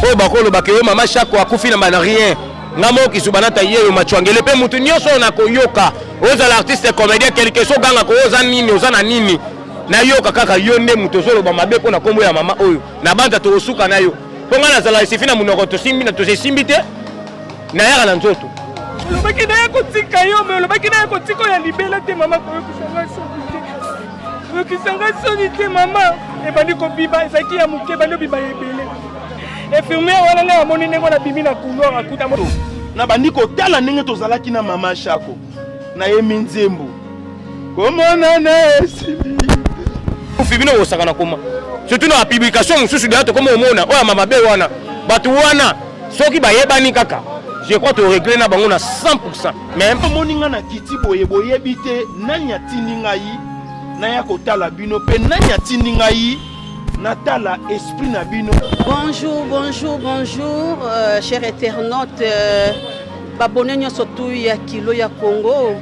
oyo bakoloba ke yo mama shako akufi na bana rien nga moko kisuba nata ye yo machwangele mpe motu nyonso oyo nakoyoka ozala artiste comédien quelque chose oganga ko oza nini oza na nini nayoka kaka yo nde moto ozoloba mabe mpo na nkombo ya mama oyo na banza tokosuka na yo mpo ngai nazala esifi na monoko tosimbi na tosesimbi te nayaka na nzoto olobaki naya kotika yo me olobaki naya kotika oyo ya libela te mama koyokisa ngai soni te koyokisa ngai soni te mama ebandi kobiba ezalaki ya moke ebandi obiba ya ebele infirmiere wana ngai amoni ndenge wana bimi na couloir akuta na bandi kotala ndenge tozalaki na mama shako nayemi nzembo komonana esili kufi bino bosaka na koma surtout na publication mosusu deya tokoma omona oyo ama mabe wana bato wana soki bayebani kaka je crois toregle na bango na 100 mais omoni nga na kiti boye boyebi te nani atindi ngai naya kotala bino mpe nani atindi ngai natala esprit na bino bonjour bonjour bonjour euh, cher internaute euh... Babone nyonso tu ya kilo ya Congo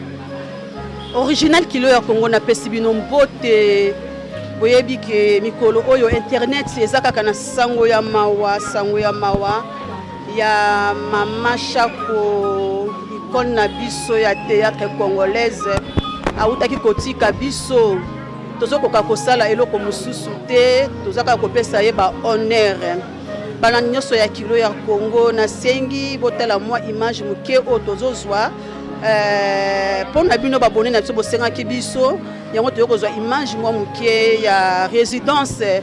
original kilo ya Congo napesi bino mbote. Boyebi ke mikolo oyo internet eza kaka na sango ya mawa, sango ya mawa ya mama Shako icone na biso ya théâtre congolaise awutaki kotika biso tozokoka kosala eloko mosusu te tozakaka kopesa ye ba honneur bana nyonso ya kilo ya Congo nasengi botala mwa image moke oyo tozozwa eh, mpo na bino babone na biso bosengaki biso yango toyei kozwa image mwa moke ya résidence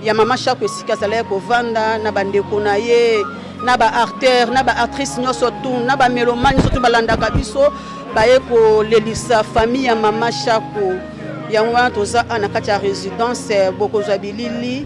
ya mama shako esika azalaki kovanda na bandeko na ye na baartère na baartrice nyonso tu na bamelomane nyonso tu balandaka biso baye kolelisa famille ya mama shako yango wana toza a na kati ya résidence bokozwa bilili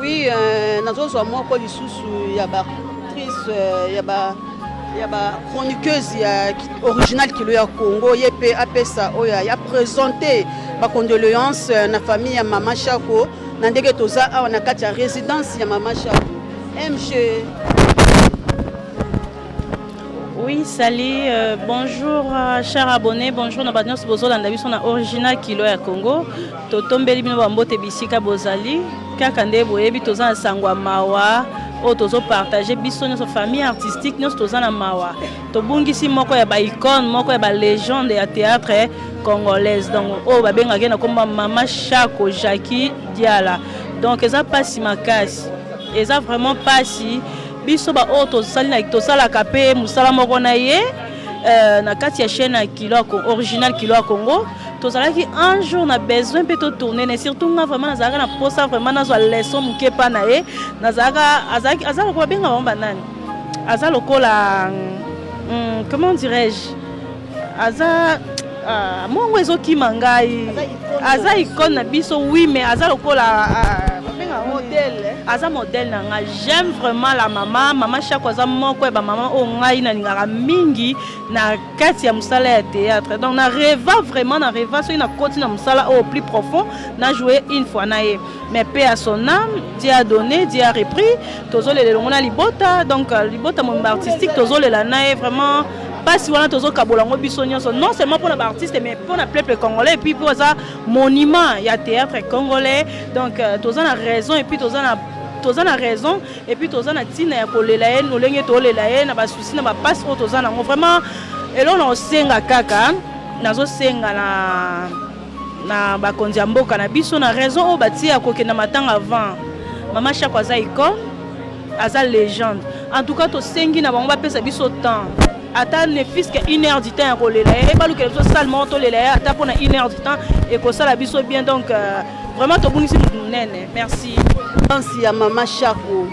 Oui, euh, nazozwa moko lisusu ya ba actrice euh, ya ba ya ba chroniqueuse ya original kilo ya Congo ye pe apesa oyo ya presenter ba condoléances euh, na famille ya Mama Shako na ndenge toza awa na kati ya résidence ya mama Shabu MG Oui, salut, euh, bonjour, euh, chers abonnés, bonjour na bato nyonso bozolanda biso na original kilo ya Congo. Totombeli bino bambote bisika bozali, kaka nde boyebi toza na sango ya mawa oyo tozopartage biso nyonso famille artistique nyonso toza na mawa tobungisi moko ya ba icone moko ya ba legende ya théâtre congolaise donc oyo babengaka ye na komba mama shako jacqui diala donc eza mpasi makasi eza vraiment mpasi biso baoyo tosalaka mpe mosala moko na ye euh, na kati ya chaîne ya kilo original kilo ya congo tozalaki un jour na besoin mpe totourne ne surtout nga vraiment nazalaka na mposa vraiment nazwa leson moke mpa na ye nazalaka azalaki azalaka babenga bango banani aza lokola hmm, comment dirais-je aza uh, mongo ezokima ngai aza icone na biso oui mais aza lokola uh, aza modèle na ngai j'aime vraiment la mama mama shako aza moko ya bamama oyo ngai nalingaka mingi na kati ya mosala ya théâtre donc na reva vraiment na reva soki nakoti na mosala oyo plus profond na joue une fois na ye mais pe à son âme dieu a donné dieu a repris tozolela elongo na libota donc euh, libota momba artistique tozolela na ye vraiment mpasi wana tozokabola yango biso nyonso non seulement mpo na baartiste mais mpo na peuple congolais epuis mpo aza monument ya théâtre congolais donc euh, toza na raison epuis toza na toza na raison epuis toza na ntina ya kolela ye lolenge tolela ye na basusi na bapasi oyo toza nango vraiment eloko na kosenga kaka nazosenga na na bakonzi ya mboka na biso na raison oyo batie ya kokenda matanga avant mama shako aza icone aza légende en tout cas tosengi na bango bapesa biso temps ata ne fiske une heure du temps ya kolela ye ebalukela biso sale moko tolela ye ata mpona une heure du temps ekosala biso bien donc euh, vraiment tobungisi motu monene merci danse ya mama shako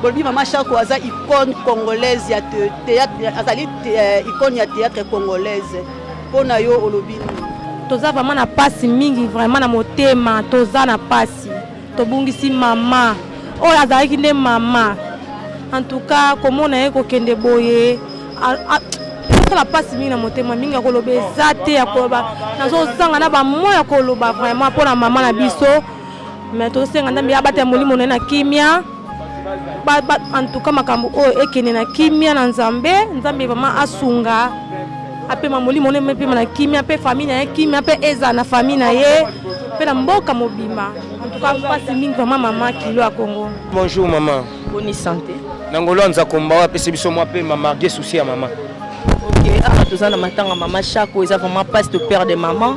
bolobi mama shako aza icone congolaise ya théâtre azali euh, icone ya théâtre congolaise Mpo na yo olobi nini? Toza vraiment na pasi mingi vraiment na motema, toza na pasi, tobungisi mama oyo azalaki nde mama. En tout cas komona ye kokende boye asala pasi mingi na motema mingi ya koloba eza te ya koloba nazozanga na bamwa ya koloba vraiment mpo na mama na biso mais tosenga nzambe abatela molimo na ye na kimia antuka makambo oyo ekende na kimia na nzambe nzambe vraiment asunga apema molimo na ye mepema na kimia mpe famille na ye kimia mpe ezala na famille na ye mpe na mboka mobimba antuka mpasi mingi vraiment mama kilo ya kongo bonjour mama boni sante na ngolo ya nzakomba oyo apesi biso mwa mpe mamarge souci ya mama ok awa ah, toza na matanga mama chako eza vraiment passe de père de maman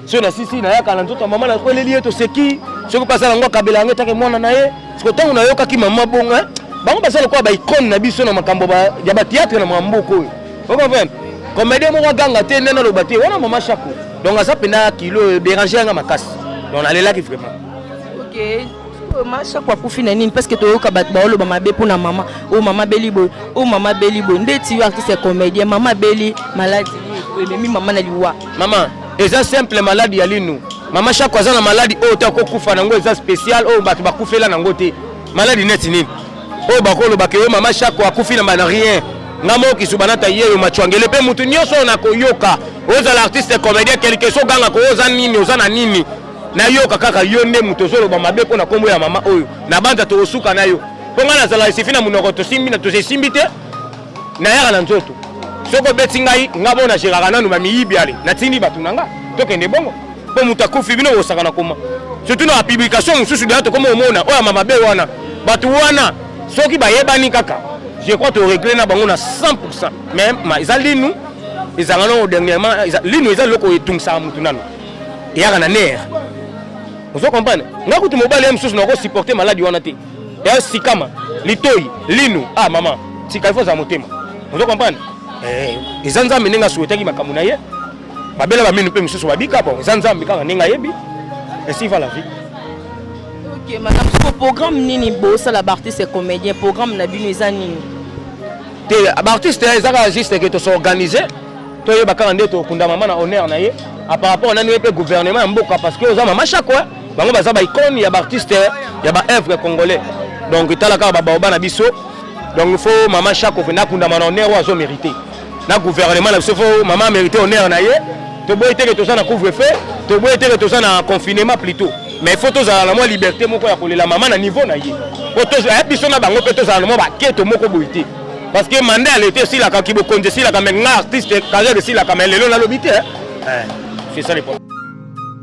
soki nasisi nayaka na nzoto ya mama nakweleli ye toseki soki mpe asala yango akabela yango etake mwana na ye siko ntango nayokaki mama bongo eh, bango baza lokola baicone na biso na makambo ya bateatre na mamboka oyo okomprendre comédien moko aganga te nde naloba te wana mama shako donc aza mpenza kilo dérange yanga makasi donc nalelaki vraiment okay. mama shako akufi na nini parce que toyoka bato baoloba mabe mpo na mama oyo oh, mama beli boye oyo oh, mama beli boye ndeti yo artiste ya comédien mama beli maladi ememi mama na liwa Mama, eza simple malade ya linu. Mama Shako aza na malade oyo ta kokufa nango eza special oyo bato bakufela nango te. Malade neti nini? Oyo bakoloba ke yo mama Shako akufi na bana rien. Nga moko kisuba nata yeyo machwangele pe mutu nyoso oyo nakoyoka. Ozala artiste comédien quelque chose ganga ko oza nini oza na nini? Nayoka kaka yo nde mutu ozoloba mabe mpo na kombo ya mama oyo. Nabanza tokosuka na yo. Mpo nga nazala esifi na monoko tosimbi na tosesimbi te. nayaka na nzoto soki obeti ngai nga bo na geraka nanu bamiyibi ale natindi bato na nga tokende bongo mpo moto akufi bino bosaka na koma surtout na bapublikation mosusu deya tokoma omona oyo ama mabe wana bato wana soki bayebani kaka je crois toregle na bango na 100 pourcent mais eza linu ezanga nao dernièrement linu eza eloko etungisaka motu nanu eyaka na nere ozo comprendre nga kutu mobali ya mosusu nakosupporte maladi wana te ya sikama litoi linu ah mama tika ifo za motema ozo comprendre eh eza nzambe ndenge asuetaki makambo na ye babela baminu mpe mosusu babika bon eza nzambe kaka ndenge ayebi esi va la vie ok madame soko programme nini bosala baartiste comédien programme na bino eza nini te baartiste eza kaka juste ke tosorganise toyeba kaka nde tokunda mama na honneur na ye par rapport nani ye mpe gouvernement ya mboka parce que oza mama shako bango baza ba icone ya ba artiste ya ba œuvre congolais donc tala kaka ba baoba na biso donc il faut maman Chako na kunda mana honneur azo mériter na gouvernement na biso faut maman mériter honneur na ye to boye teke toza na couvre feu to boye teke toza na confinement plutôt mais il faut tozala na mwa liberté moko ya kolela mama na niveau na ye po eh, biso na bango mpe tozala na mwa baketo moko boye te parce que mandat ya leta esilaka kibokonzi esilaka me nga artiste carrière esilaka me lelo nalobi te eh. Eh, c'est ça le problème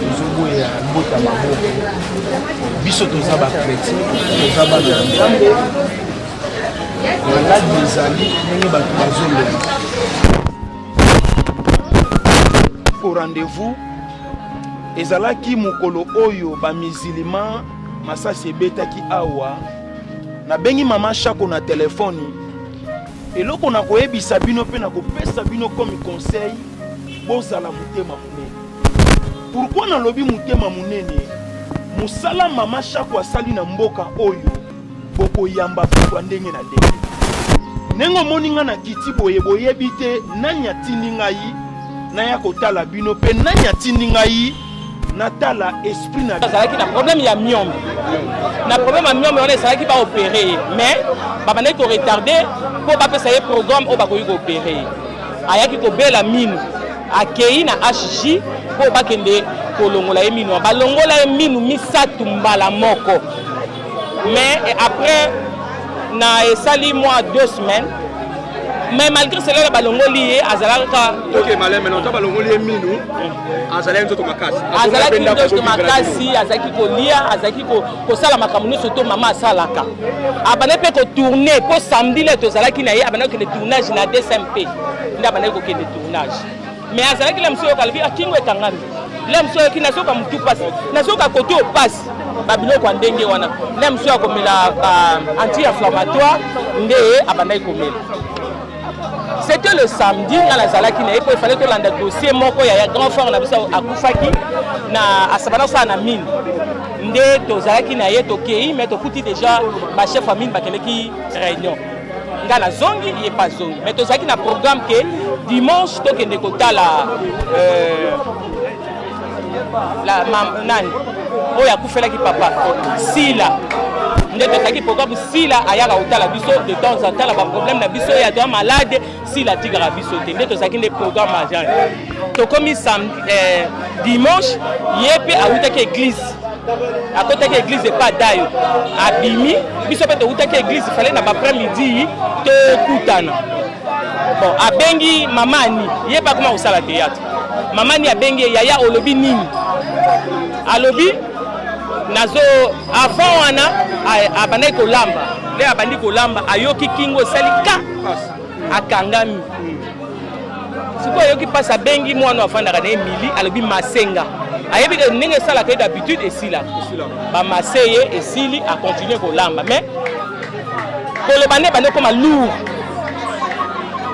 tozoboya mbota maboko biso toza bakretin toza bana ya nzambe maladi ezali ndenge bato bazolema au rendez-vous ezalaki mokolo oyo bamizilima masasi ebetaki awa nabengi mama shako na telefoni eloko na koyebisa bino mpe na kopesa bino komi conseil bozala motema monene pourkui nalobi motema monene mosala mama shako asali na mboka oyo bokoyamba bato ya ndenge na ndenge. Ndenge omoni ngai na kiti boye, boyebi te nani atindi ngai naya kotala bino mpe nani atindi ngai natala esprit na azalaki na problème ya miombe na problème ya miombe wana ezalaki baopere ye mais babandaki koretarde mpo bapesa ye programme oyo bakoki koopere ye ayaki kobela minu akei na hg mpo bakende kolongola ye minu balongola ye minu misato mbala moko mais après na esali mwa deux semaines mais malgré cela na balongoli ye azalaki kaazalaki nzoto makasi azalaki kolia azalaki kosala makambo nyonso to mama asalaka abandaki mpe kotourne mpo samedi le tozalaki na ye abandaki kokende tournage na dcmp nde abandaki kokende tournage me azalaki la mosu oyoka alobi akingo ekangami la mosu ayoki nazoka motu mpasi nazoka kote oyo mpasi babiloko ya ndenge wana la mosu akomela anti inflammatoire nde abandaki komela c'était le samedi nga nazalaki na ye mpo efale tolanda dossier moko ya grand frère na biso akufaki na asabana kosala na mine nde tozalaki na ye tokei me tokuti déjà bachef ya mine bakendeki réunion nga nazongi ye pa zongi mais tozalaki na programme ke dimanche tokende kotala euh, la, ma, nani oyo akufelaki papa sila nde tozalaki programme sila ayaka kotala biso de temps en temps na baproblème na biso ye aza malade sila atikaka biso te nde tozalaki nde programme agent tokomi eh, dimanche ye mpe awutaki eglise akotaki eglise epa dayo abimi biso mpe towutaki eglise fale na bapres midi tokutana bon abengi mama ani ye mpe akoma kosala théâtre mama ani abengi ye yaya olobi nini alobi nazo avant wana abandaki kolamba nde abandi kolamba ayoki kingo esali ka akangami sikoyo ayoki mpasi abengi mwana afandaka na ye mili alobi masenga ayebi ke ndenge esalaka ye d'habitude esila bamase ye esili akontinue kolamba mais koloba nde bande okoma lour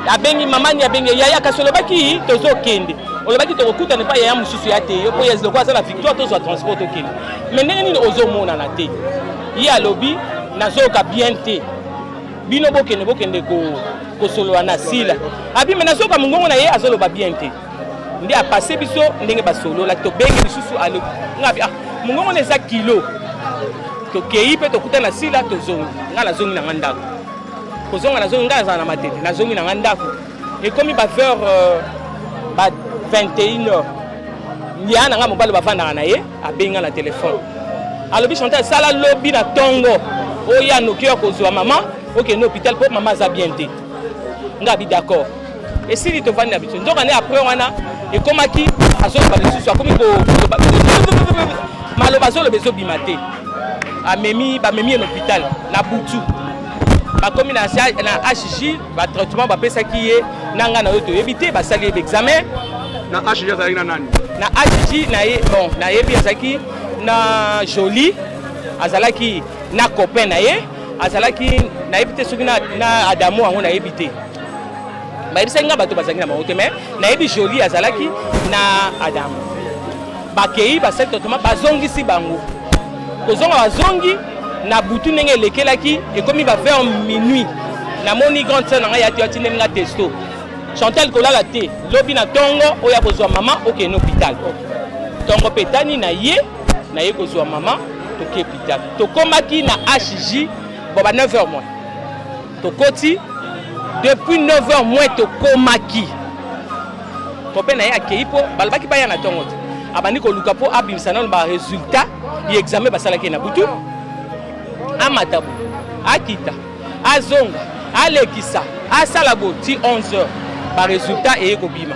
abengi mamani abengi yaya kasi olobaki tozokende olobaki tokokutana epai yaya mosusu ya te yo mpo lokola aza na victoire tozwa transport tokende mais ndenge nini ozomonana te ye alobi nazoyoka bien te bino bokende bokende ko kosolola na sila abi me nazoka mongongo na ye azoloba bien te nde apase biso ndenge basolola tobengi lisusu alo nga abi ah mongongo na eza kilo tokei mpe tokuta na sila tozongi nga nazongi na nga ndako kozonga nazongi nga nazala na matete nazongi na nga ndako ekomi ba vers euh, ba 21 heures ya na nga mobali bafandaka na ye abenga na telefone alobi chantal sala lobi na ntongo oya noki ya kozwa mama okende hôpital mpo mama aza bien te nga bi d'accord esili tovandi na biso nzoka nde après wana ekomaki azoloba lisusu akomi koloba maloba azoloba ezobima te amemi bamemi ye na hôpital na butu bakomi na hg ba traitement bapesaki ye na ngai na yo toyebi te basali ye baexamen na hg azalaki na nani na hg na ye bon nayebi azalaki na jolie azalaki na copain na ye azalaki nayebi te soki na, na adamu yango nayebi te bayebisaki ngai bato bazalaki na bango te mais nayebi jolie azalaki na adamu bakei basali totoma bazongisi bango kozonga bazongi Na butu ndenge elekelaki ekomi ba vers minuit namoni grande sœur na ngai yati atindeli nga testo Chantal kolala te lobi na tongo oyo akozwa mama okende hôpital tongo mpe etani na ye na ye kozwa mama toke hôpital tokomaki na HJ bon ba 9 heures moins tokoti depuis 9 heures moins tokomaki kope na ye akei mpo balobaki baya na ntongo te abandi koluka mpo abimisa nano baresultat ya examen basalaki na butu amata bo akita azonga alekisa asala bo ti 11 heures baresultat eye kobima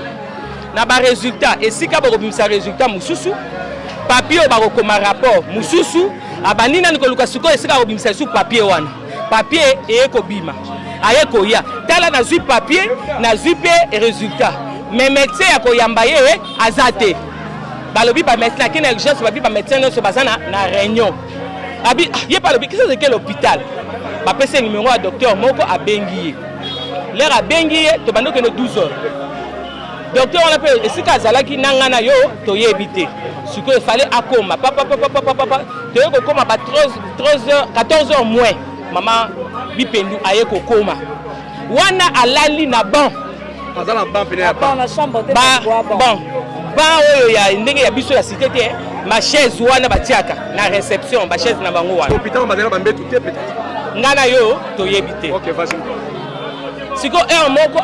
na baresultat esika bakobimisa resultat mosusu papie oyo bakokoma rapport mosusu abandi nani koluka sikoyo esika akobimisa lisusu papie wana Papier eye kobima, aye koya. Tala nazui papier, nazui pe resultat. Mais médecin ya koyamba ye eh, aza te. Balobi ba médecin akende na urgence, babi ba médecin nyonso baza na, na réunion. Abi ah, ye balobi kisa zeke l'hôpital. Bapesi ye numero ya docteur moko abengi ye. Lere abengi ye, tobandi okende 12 heures. Docteur wana pe esika azalaki na ngai na yo toyebi te. Sikoyo efale akoma papa papa papa papa toye kokoma ba 13 13h 14h moins mama bipendu aye kokoma wana alali na banc aza na banc pene ya banc na chambre te ba banc banc oyo ya ndenge ya biso ya cité te eh. ma chaise wana batiaka na réception ba chaise na bango wana hôpital bazalaka bambetu te peut-être ngai na yo toyebi te okay, sikoyo heure moko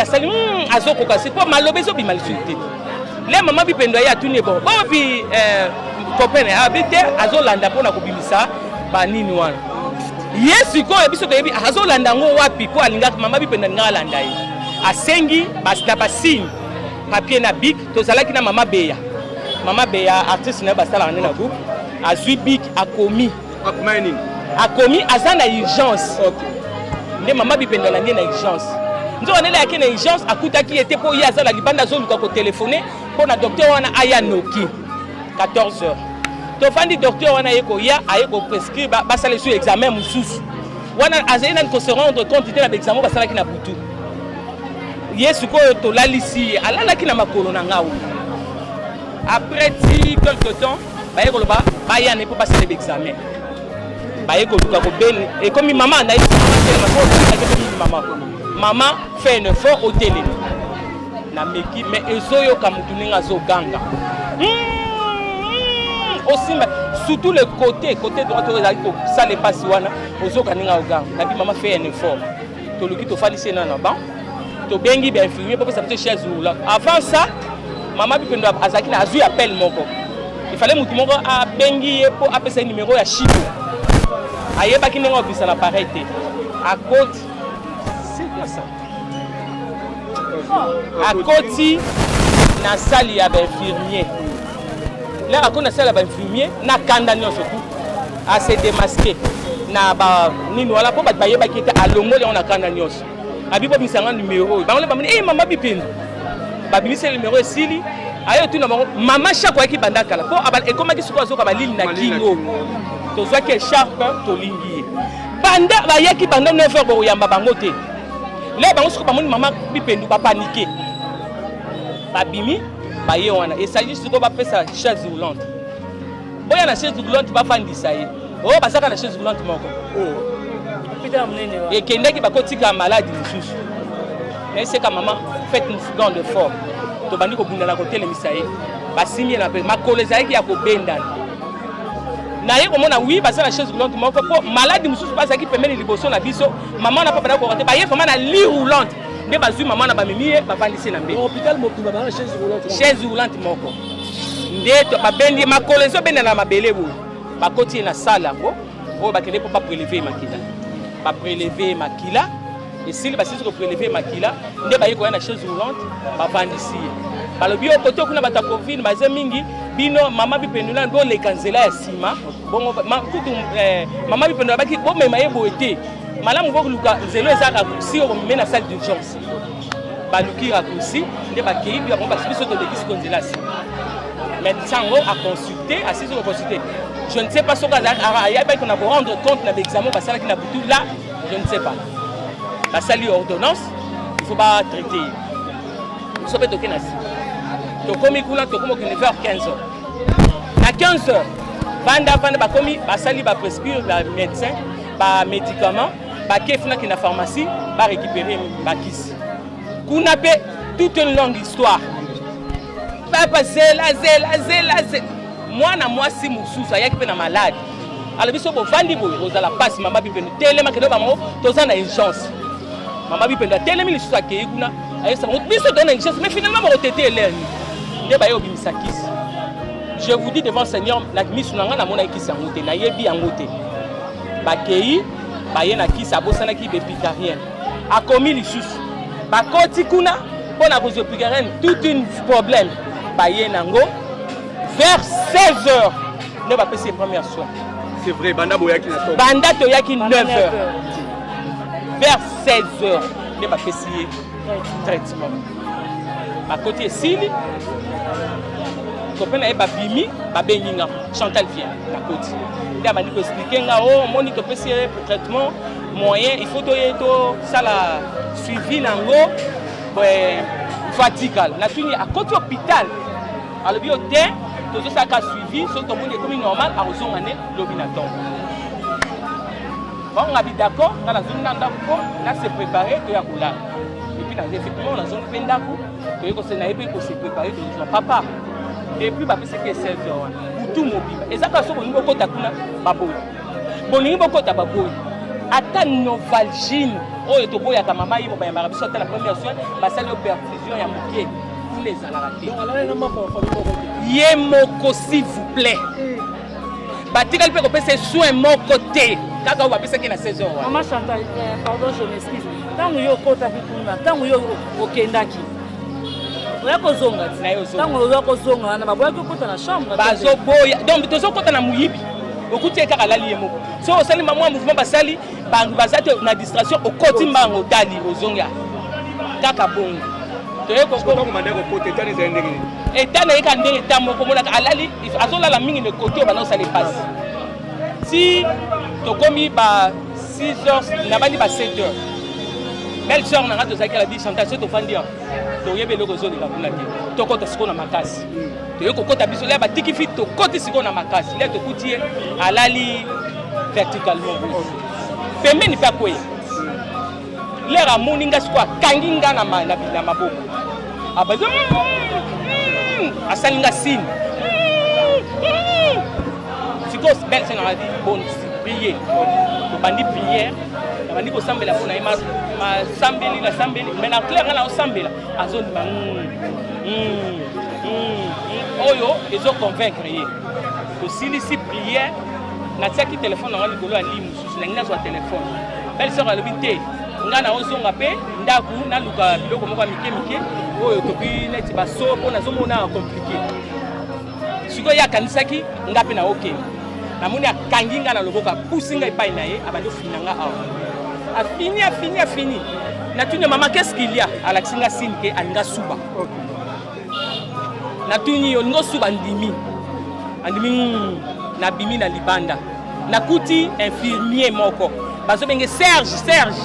asali hmm, azokoka sikoyo maloba ezobima lisusu te le mama bipendo aye atuni ebongo bawapi eh, kopene abi ah, te azolanda mpo na kobimisa banini wana ye sikoyo biso toyebi azolanda yango wapi mpo alingaka mama bipendo alingaka alanda ye asengi na basigne papier na bik tozalaki na mama beya mama beya artiste na ye basalaka nde na groupe azwi bik akomi akomaki nini akomi aza na urgence okay. nde mama bipendo alandi ye na urgence nzoka ndele ayaki na urgence akutaki ye te mpo ye aza na libanda azoluka kotelefone mpo na docteur wana aya noki 14 heures tofandi docteur wana aye koya aye koprescrire basala esu examen mosusu wana azali nani kose rendre compte te na baexamen basalaki na butu ye sikoyo tolalisi ye alalaki na makolo na ngai après ti quelque temps baye koloba baya ne mpo basala baexamen baye koluka kobele ekomi mama na mama mama fait un effort otelemi nameki mais ezoyoka motu ndenge azoganga hmm, osimba surtout le côté côté droite oyo ezali kosala epasi wana ozoka ndenge agoganga nabi mama fait un effort toluki tofandisi ye na na ban tobengi bainfirmier mpo pesa biso chaise roula avant ça mama bipendo azalaki na azwi appel moko ifale motu moko abengi ye mpo apesa ye nimero ya shiko ayebaki ndenge akobisa na pareil te akoti sekwasa akoti na sali ya bainfirmier lere akoti na sali ya bainfirmier na kanda nyonso tu A se demasquer na ba nini wana po bato bayebaki ete alongoli yango na kanda nyonso. Abi bobimisa nga numero oyo. Bango nde bamoni eh mama Bipindu. Babimisi ye numero esili. Aye otuna bango mama Shako ayaki banda kala po ekomaki sikoyo azoka balili na kingo. Tozwaki echarpe tolingi ye. Banda bayaki banda 9 heures bokoyamba bango te. Leo bango sikoyo bamoni mama Bipindu ba paniquer. Babimi baye wana esali sikoyo bapesa chaise roulante. boya na chaise roulante bafandisa ye o oh, bazaka na chaise roulante moko oh. ekendaki bakotika maladi mosusu naeseka mama fete mofugan de fort tobandi kobundana kotelemisa ye basimi ye na mpe makolo ezalaki ya kobendana naye komona wi baza na chaise roulante moko mpo maladi mosusu bazalaki pembeni liboso na biso mama na papa na koka te baye vraimen na li roulante nde bazwi mama na bamemi ye bafandisi na mbe chaise roulante moko nde babendi ye makolo ezobenda na mabele boye bakoti ye na sale yango oyo bakende mpo bapreleve ye makila bapreleve ye makila esili basilisi kopreleve ye makila nde baye koya na chaise roulante bavandisi ye balobi yo kote kuna bato ya covid baze mingi bino mama bipendula boleka nzela ya nsima bongo kutu eh, mama bipendula baki bomema ye boye te malamu boluka nzela ezaka si okomeme na salle d'urgence baluki raccourci nde bakei mpe bango basi biso tolekisi konzelasi médecin yango aconsulte asisi koconsulte je ne sais pas soki ayebaki na korendre compte na baexamen basalaki na butu la je ne sais pas basali ordonnance il faut batraite ye biso mpe toke na si tokomi kuna tokomi okende vers 15 heures na 15 heures vanda vanda bakomi basali baprescrire bamédecin bamédicament bake funaki na pharmacie ba récupérer bakisi kuna pe toute une longue histoire papa zela zela zela zela mwana mwasi mosusu ayaki mpe na malade alobi so bovandi boye kozala mpasi mama bipendo telema kende bango toza na urgence mama bipendo atelemi lisusu akei kuna ayebisa bango biso toza na urgence mais finalement bakotete elerni nde baye obimisa kisi je vous dis devant seigneur na misu na ngai namonaki kisi yango te nayebi yango te Bakei baye na kisi abosanaki bepicarien akomi lisusu bakoti kuna mpo na kozwa picarien toute une problème baye nango vers 16 heures nde bapesi ye première soin c'est vrai banda boyaki na banda toyaki 9 heures vers 16 heures nde bapesi ye traitement bakoti esili copain na ye babimi babengi nga chantal vien nakoti nde abandi koexplike nga o oh, omoni topesi ye pour traitement moyen il faut toye tosala suivi na yango faut atikala natuni akoti hôpital alobi yo te tozosalaka suivi soki tomoni ekomi normal akozonga nde lobi na ntongo Bango nga bi d'accord, nga nazongi na ndako po na se préparer to ya kolala. Et puis na effectivement nazongi pe ndako, to yeko se na ye pe ko se préparer to zwa papa. Et puis ba pese ke 16 heures wana. Butu mobimba. Eza ka soko ningo kota kuna baboyi. Bolingi bokota baboyi. Ata Novalgine oyo toboyaka mama ye bobayambaka biso ata na première soin basali yo perfusion ya moke kuna ezalaka te ye moko s'il vous plaît batikali mpe kopesa ye soin moko te kaka oyo bapesaki na 16 heures mama chantal eh, pardon je m'excuse ntango yo okotaki kuna ntango yo okendaki oya kozonga ntango oya kozonga wana baboyaki okota na chambre bazoboya donc tozokota na moyibi okuti ye kaka alali ye moko so osali mamwa mouvement basali baza te na distraction okoti mbango otali ozongi kaka bongo toye eta na ye ka ndenge ta moko omonaka alali azolala mingi na ekoki oyo banda osala epasi ti tokomi ba 6 heures nabandi ba 7 heures belle sœur na nga tozalaki ala bi chantage soki tofandi awa toyebi eloko ezoleka kuna te tokota sikoyo na makasi toye kokota biso lia batiki fi tokoti sikoyo na makasi lia tokuti ye alali verticalement pembeni mpe akweya lere amoni nga sikoyo akangi nga na maboko abaza mm, mm, mm, asali nga sini sikoyo belle se nanga bon prier tobandi priere nabandi kosambela mpo na ye masambeli nasambeli mai na claire nga naosambela azondima oyo ezoconvaincre ye tosilisi priere natiaki telefone yango likolo ya limu susu nangi nazwa telefone belle sœur alobi te ngai naozonga mpe ndako naluka biloko moko ya mike mike oyo toki neti baso mpo nazomona komplike sikoyo ye akanisaki ngai mpe naoke namoni akangi ngai na loboko apusi ngai epai na ye abandi ofina ngai awa afini afini afini natuni mama qu'est-ce qu'il y a alakisi ngai sini ke alinga suba okay. natuni yo olingi osuba ndimi andimi hmm, nabimi na libanda nakuti infirmier moko bazobenge serge serge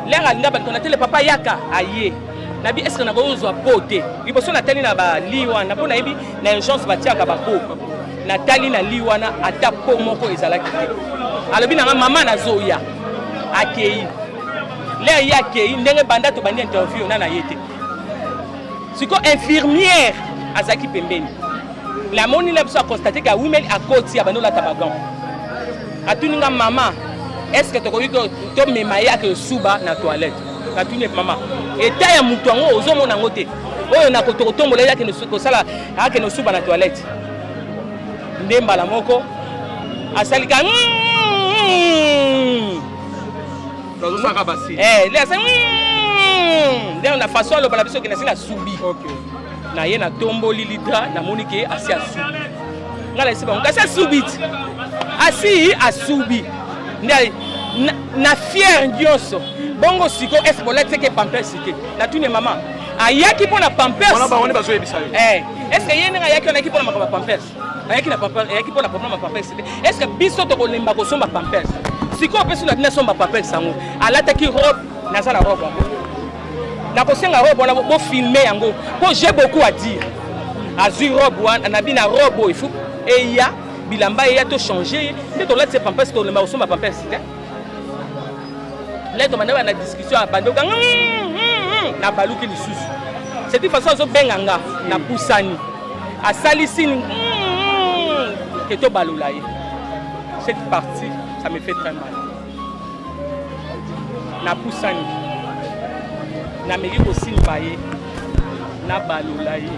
lere alinga baliko natele papa yaka aye nabi eske nakoki kozwa po te liboso natali na bali wana mpo nayebi na urgence batiaka bako natali na li wana ata po moko ezalaki te alobi na nga mama nazoya akei lere ye akei ndenge banda tobandi interview na na ye te siko infirmière azalaki pembeni namoni na biso aconstate ka wimeli akoti abandi olata bagan atuni nga mama estce tokoki tomema ye ake suba na toilette natuni mama eta ya motu yango ozomona yango te oyo nakotokotombola ye akende kosala akende osuba na toilette nde mbala moko asalika mm, mm, mm. nazosaka basi eh le asa hmm, nde na façon aloba na biso ke nasi nasubi na ye natomboli litra namoni ke asi asubi ngai nayesi bango kasi asubi ti asi asubi nde na fiere nyonso bongo siko ese bolateke pampesi te natuni mama ayaki mpo na pampers wana bango nde bazoyebisa yo eh, est ce que ye ndenge ayaki wana ayaki mpo na makambo ya pampers ayaki na papa ayaki pona problème ya papa esite est ce que biso tokolemba kosomba pampers sikoyo mpe soki na somba pampers yango alataki robe naza na robe yango nakosenga robe wana bofilme yango mpo j'ai beaucoup à dire azwi robe wana nabi na robe oyo il faut eya bilamba eya to change ye nde tolatisa pampers tolemba kosomba pampers te leto banda bana discussion abandi okanga nabaluki lisusu ceti façon azobenga nga napusani asalisi ke tobalola ye cette partie ça me fait très mal napusani nameki kosimba ye nabalola ye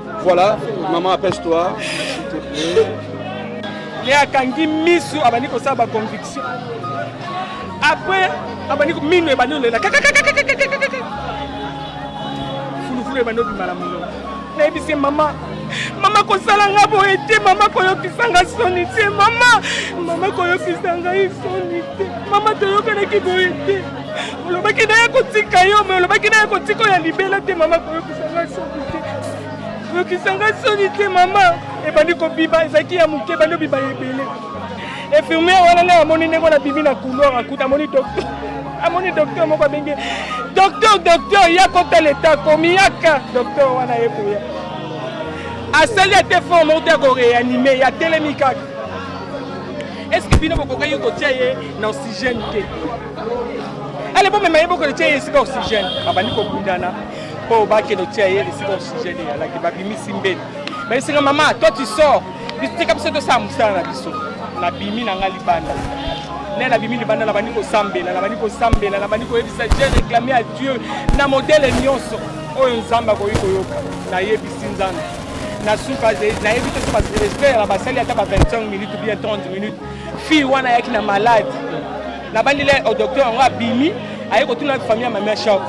Voilà, maman apaise-toi, s'il te plaît. ye akangi misu abandi kosala baconviction après abandi mino ebandi olela fulufulu ebandi obima na monoko nayebisi mama mama kosala nga boye te mama koyokisa nga soni te mama mama koyokisa ngai soni te mama toyokanaki boye te olobaki naye kotika yo me olobaki naye kotika oyo ya libela te mama koyoka yokisa ngai soni te mama ebandi kobiba ezalaki ya moke ebandi obiba ya ebele infirmiere wana ngai amoni ndenge wana bimi na couloir akuta amoni docteur amoni docteur moko abengi docteur docteur ya kota leta akomi yaka docteur wana ye koya asali ate fort moko te ya koreanime ya telemi kaka estce bino bokokaki kotia ye na oxygène te ale bomema ye bokoletia ye esika oxygène babandi kobundana po bakende otia ye esika osujet de yalaki babimisi mbeni bayesika mama toi tu sors tika biso tosala mosala na biso nabimi na ngai libanda ne nabimi libanda nabandi kosambela nabandi kosambela nabandi koyebisa je réclame à dieu na modele nyonso oyo nzambe akoki koyoka nayebisi nzambe na suka nayebi te so basrespect na basali ata ba 25 minutes bien 30 minutes fille wana ayaki na malade nabandi le docteur yango abimi aye kotuna famille ya mamia shop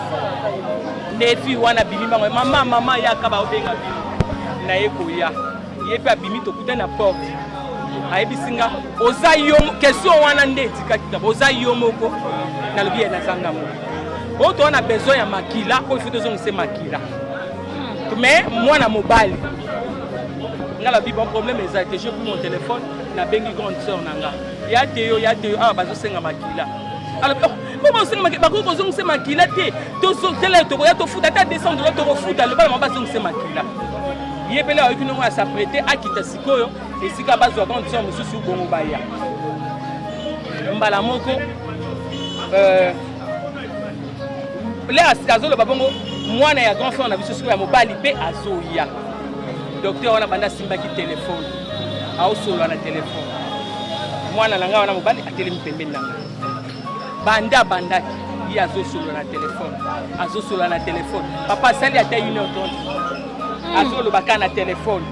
nde fille wana abimi bango mama mama yaka baobenga bino naye koya ye mpe abimi tokutani na porte ayebisi nga oza yo question wana nde etikaki kaka oza yo moko nalobi ye nazanga moko oyo toza na besoin ya makila oyo fo tozongise makila mais mwana mobali nga lobi bon problème eza te je pris mon téléphone nabengi grande sœur na nga ya te yo ya te yo awa bazosenga makila alobi oh, po bazosenga makila bakoki kozongisa makila te tozotela tokoya tofuta ata 200 dola tokofuta loba na mama bazongisa makila ye mpele ayoki ndongo ya saprete akita sikoyo esika bazwa condition mosusu bongo baya mbala moko euh, le asika azoloba bongo mwana ya grand frère na biso sikoyo ya mobali mpe azoya docteur wana banda asimbaki telefone aosolola na telefone mwana na ngai wana mobali atelemi pembeni na ngai banda abandaki ye azosolola na telefone azosolola na telefone papa asali ata une heure trente hmm. azoloba kaka na telefone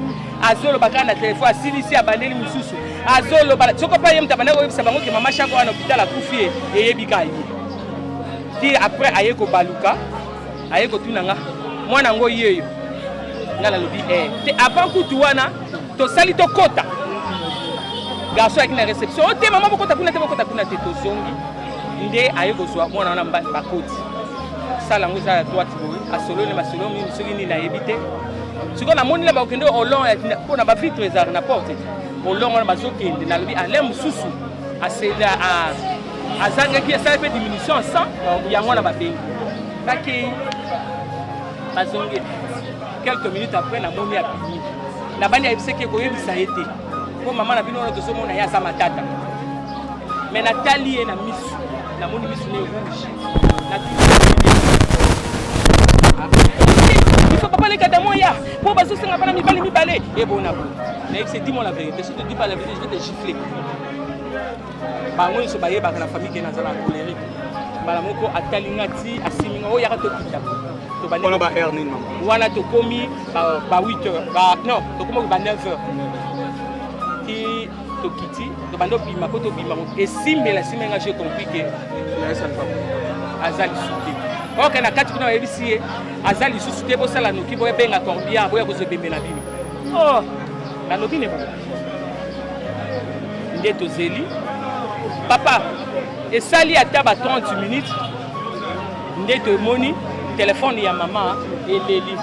azoloba kaka na telefone asilisi abandeli mosusu azoloba soko mpe ye moto abandaki koyebisa bango ke mama shako wana hopital akufi ye eyebi kaka ye ti après aye kobaluka aye kotuna nga mwana yango yeyo nga nalobi eh. te avant kutu wana tosali tokota garso ayaki na réception ote oh, mama bokota kuna te bokota kuna te tozongi nde aye kozwa mwana wana bakoti sala yango eza ya droite boye asololi masolo mingi soki nini nayebi te sikoyo namoni na bakokende olon mpo na bavitre ezalaka na porte olon wana bazokende nalobi ale mosusu asela azangaki esali mpe diminution ya sang yango wana babengi bakei bazongi quelques minutes après namoni abimi nabandi ayebisaki ekoyebisa ye te mpo mama na bino wana tozomona ye aza matata me natali ye na misu namoni misu ne rouge biso papa lekata moya mpo bazosenga bana mibali mibale ebona bo nayebisa dis moi la vérité si te dis pas la vérité je vais te gifler bango nyonso bayebaka na famille ke nazala colerique mbala moko atali nga ti asimi nga oyaka tokita wana ba heure nini mama wana tokomi ba 8 heures ba non tokomi ba 9 heures ti tokiti tobanda obima mpo tobima esimbela esimbela nga je compris ke aza lisusu te oke na kati kuna bayebisi ye aza lisusu te bosala noki boya benga corbia boya kozwa ebembe na bino oh nalobi ne nde tozeli papa esali ata ba 30 minutes nde tomoni telefone ya mama eleli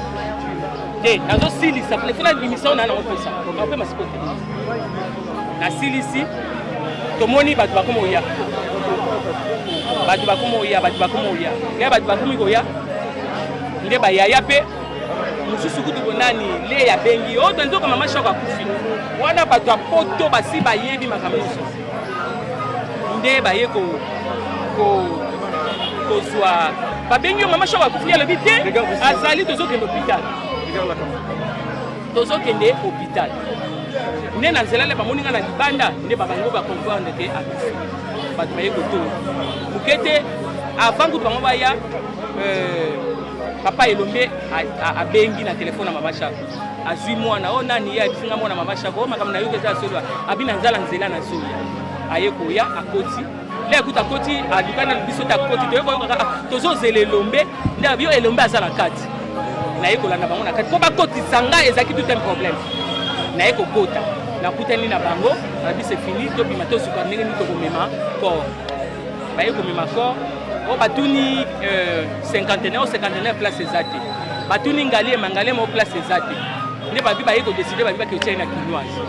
te nazosilisa telefone abimisa ona nakopesa nakopema siko te nasilisi tomoni bato bakoma oya bato bakoma oya bato bakoma oya ngai bato bakomi koya nde bayaya mpe mosusu kutu bonani le ya bengi oyo toyebi oko mama shoko akufi wana bato ya poto basi bayebi makambo nyonso nde baye kozwa babengi yo mama shoko akufi alobi te azali tozokende hopital tozokende hopital nde na nzela le bamoni nga na libanda nde babango bacomprendre te akufi bato baye kotoyo moke te avant kutu bango baya euh, Papa Elombe abengi na telefone ya Mama Shako, azwi mwana oyo. Oh, nani ye abisinga mwana Mama Shako? Oyo oh, makambo na yo eza solo, abi na nzala nzela na zoya, aye koya akoti le akuti akoti alukani biso te akoti toyekoyokaka ah, tozozela Elombe nde abi yo Elombe aza na kati naye kolanda bango na kati mpo bakotisa ngai ezalaki tout un problème naye kokota nakutani na bango nabise fini tobima tosuka ndenge nini tokomema kor baye komema kor oyo oh, batuni euh, cinquantenaire o cinquantenaire place eza te batuni ngaliema ngaliema o place eza te nde babi baye kodeside babi bakeotyai na kinoise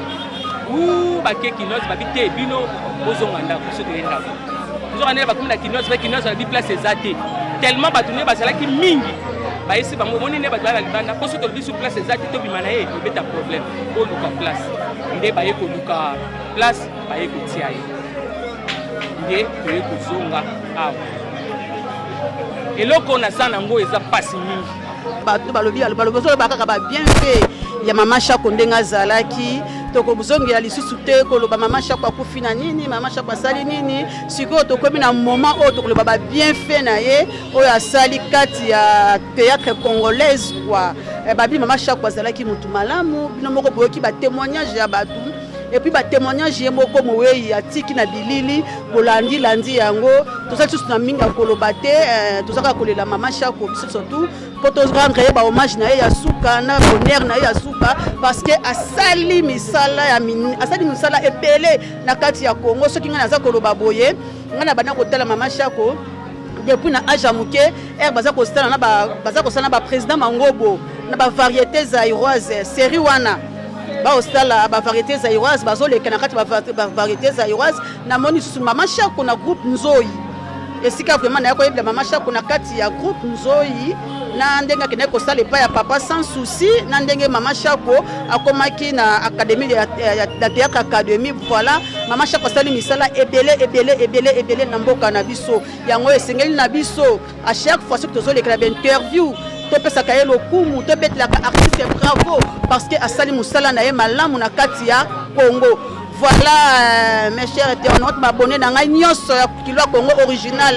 u bake kinoise babi te bino bozonga ndako biso toye ndako nzoka ndenge bakomi na kinoise mpe kinoise babi place eza te tellement bato nde bazalaki mingi bayesi bango omoni nde bato baya na libanda mpo soki tolobi su place eza te tobima na ye tobeta problème oluka place nde baye koluka place baye kotia ye nde toye kozonga awa eloko naza nango eza mpasi mingi bato balobi balobi ozoloba kaka babien mpe ya mama shako ndenge azalaki tokozongela lisusu te koloba mama shako akufi na nini mama shako asali nini sikoyo tokomi na moment oyo tokoloba babienfait na ye oyo asali kati ya théâtre congolaise kua eh, babi mama shako azalaki motu malamu bino moko boyoki batémoignage ya bato et puis batémoignage ye moko mowei atiki na bilili bolandi landi yango tozali susu na mingi ya koloba te eh, tozalaka kolela mama shako biso surtout mpo torendre ye bahommage na ye ya suka na bonheur na ye ya suka parce que asali misala ya asali misala ebele na kati ya congo soki ngai naza koloba boye ngai na banda kotala mama shako depuis na age ya moke ere baza kosala na baza kosala na baprésident mangobo na bavariété zairoise série wana baosala ba variété zaïroise bazoleka na kati ba variété zaïroise namoni lisusu mama shako na groupe nzoi esika vraiment naya koyebela mama shako na kati ya groupe nzoi na ndenge akendaki kosala epai ya papa sans souci na ndenge mama shako akomaki na académie ya, ya, ya, ya théâtre académie voilà mama shako asali misala ebele ebele ebele ebele na mboka na biso yango esengeli na biso A chaque fois soki tozolekela bainterview topesaka ye lokumu tobetelaka artiste bravo parce que asali mosala na ye malamu na kati ya congo voilà euh, mes chers internautes babone na ngai nyonso ya kilo ya congo original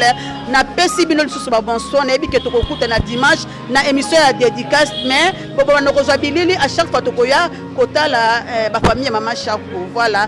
napesi bino lisusu babonsoin nayebi ke tokokuta na dimanche na émission ya dédicace mais bobobanda kozwa bilili à chaque fois tokoya kotala euh, bafamille ya mama shako voilà